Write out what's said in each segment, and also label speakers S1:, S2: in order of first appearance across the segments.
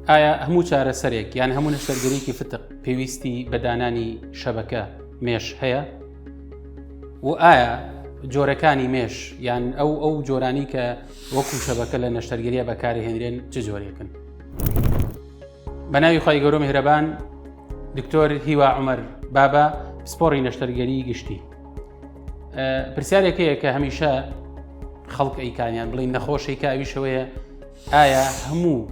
S1: ئایا هەموو چارەسەرێک یان هەموو نەشتەرگەریکی فتق پێویستی بە دانانی شەبەکە مێش هەیە و ئایا جۆرەکانی مێش یان ئەو ئەو جۆرانی کە وەکو شەبەکە لە نەشتەرگەریە بەکاری هێنرێن چ جۆرێکن بە ناوی خی گەۆ میهرەبان دکتۆر هیوا عمر بابا پسپۆڕی نەشتەرگەری گشتی پرسیارێکەیە کە هەمیشە خەڵک ئەیکانیان بڵین نەخۆشی کاویشەوەیە ئایا هەموو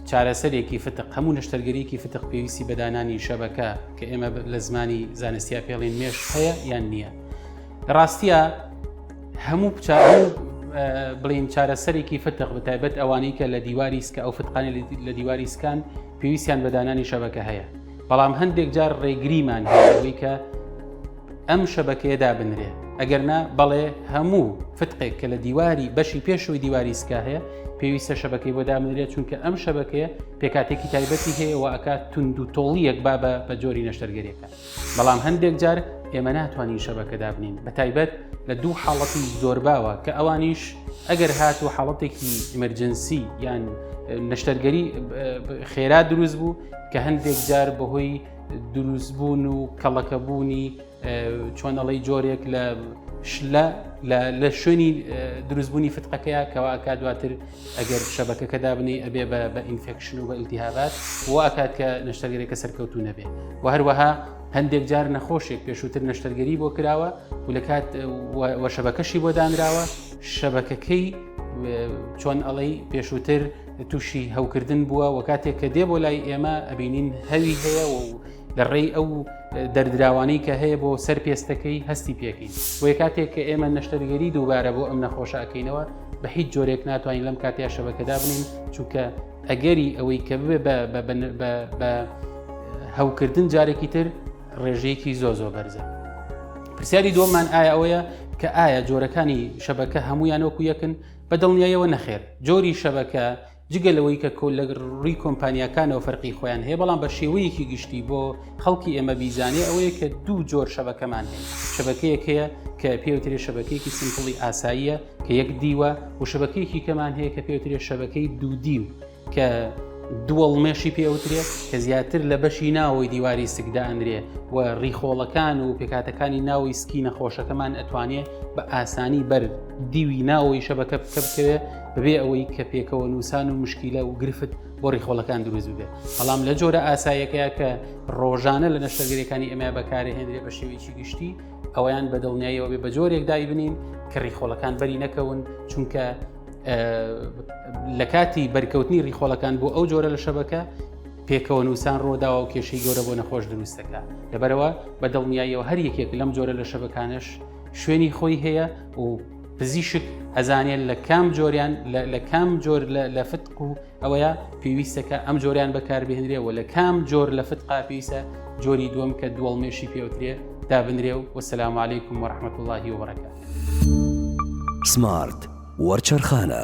S1: چارەسەرێکی فتق هەموو نەشتەرگەریەکی فتق پێویستی بەدانانی شەبەکە کە ئێمە لە زمانی زانستیا پێڵین مێش هەیە یان نییە ڕاستە هەموو بڵین چارەسەرێکی فتق بەتایبەت ئەوانەی کە لە دیواری سکە ئەو فتقانی لە دیواری سکان پێویستیان بەدانانی شەبەکە هەیە بەڵام هەندێک جار ڕێگریمان هەیە لەوەی کە ئەم شەبەکەیە دابنرێ ئەگەرنا بەڵێ هەموو فتقێک کە لە دیواری بەشی پێشەوەی دیواری سکا هەیە پێویستە شەبەکەی بۆ دامنرێت چونکە ئەم شەبەکەیە پێکاتێکی تایبەتی هەیە و ئەکات تونند و تۆڵیەک با بە بە جۆری نەشتەرگەریەکە بەڵام هەندێک جار ئێمە ناتوانین شەبەکە دابنین بە تایبەت لە دوو حاڵەتی زۆر باوە کە ئەوانیش ئەگەر هات و حاڵەتێکی ئمرجنسی یان نەشتەرگەری خێرا دروست بوو کە هەندێک جار بەهۆی دروستبوون و کەڵەکەبوونی چۆنەڵی جۆرێک لە شلە لە شوێنی دروستبوونی فتقەکەیە کەواکە دواتر ئەگەر شەبەکەکە دابنی ئەبێ بە ئینفێکشن و بە ئیلتیهابات و ئاکات کە نەشتەگەرێکە سەرکەوتو نەبێ و هەروەها هەندێک جار نەخۆشێک پێشووتر نەشتەرگەری بۆ کراوە و لە کات وەشەبەکەشی بۆ دانراوە شەبەکەکەی چۆن ئەڵەی پێشووتر تووشی هەوکردن بووە و کاتێک کە دێ بۆ لای ئێمە ئەبینین هەوی هەیە و لە ڕێی ئەو دەردراوانەی کە هەیە بۆ سەر پێستەکەی هەستی پێکەین بۆیە کاتێک کە ئێمە نەشتەرگەری دووبارە بۆ ئەم نەخۆشەکەینەوە بە هیچ جۆرێک ناتوانین لەم کاتیا شەبەکەدا بنین چونکە ئەگەری ئەوەی کە بێ بە هەوکردن جارێکی تر ڕێژەیەکی زۆ زۆ بەرزە پرسیاری دۆمان ئایا ئەوەیە کە ئایا جۆرەکانی شەبەکە هەمویان وەکو یەکن بە دڵنیایەوە نەخێر، جۆری شەبەکە جگە لەوەی کە کۆ لە ڕووی کۆمپانیاکانەوە فەرقی خۆیان هەیە بەڵام بە شێوەیەکی گشتی بۆ خەڵکی ئێمە بیزانێ ئەوەیە کە دوو جۆر شەبەکەمان هەیە شەبەکەیەک هەیە کە پێوترێ شەبەکەیەکی سمپڵی ئاساییە کە یەک دیوە و شەبەکەیەکی کەمان هەیە کە پێوترێ شەبەکەی دوو دیو کە دووەڵمێشی پێوترێت کە زیاتر لە بەشی ناوەی دیواری سکدانرێ و ڕیخۆڵەکان و پێکاتەکانی ناوی سکی نەخۆشەکەمان ئەتوانێت بە ئاسانی بەر دیوی ناوەی شەبەکە بکە بکەوێت بەبێ ئەوەی کە پێکەوە نووسان و مشکیلە و گرفت بۆ ڕیخۆڵەکان دروست بێت بەڵام لە جۆرە ئاسایەکەیە کە ڕۆژانە لە نەشتەرگەرەکانی ئەمە بەکارهێنرێ بە شێوەیەکی گشتی ئەویان بە دڵنیاییەوە بێ بە جۆرێک دایبنین کە ڕیخۆڵەکان بەری نەکەون چونکە لە کاتی بەرکەوتنی ڕیخۆڵەکان بۆ ئەو جۆرە لە شەبەکە پێکەوە نووسان ڕۆداوە و کێشەی گەورە بۆ نەخۆش دروستەکە لەبەرەوە بە دڵنیاییەوە هەر یەکێک لەم جۆرە لە شەبەکانش شوێنی خۆی هەیە و پزیشک ئەزانێت لە کام جۆریان لە کام جۆر لە فتق و ئەوەیە پێویستەکە ئەم جۆریان بەکاربهێنرێ و لە کام جۆر لە فتقا پێویستە جۆری دووەم کە دووەڵمێشی پێوترێ دابنرێ و وەسلام عیکم وەرحمەت اللهی وڕەکە سمارت وەرچەرخانە.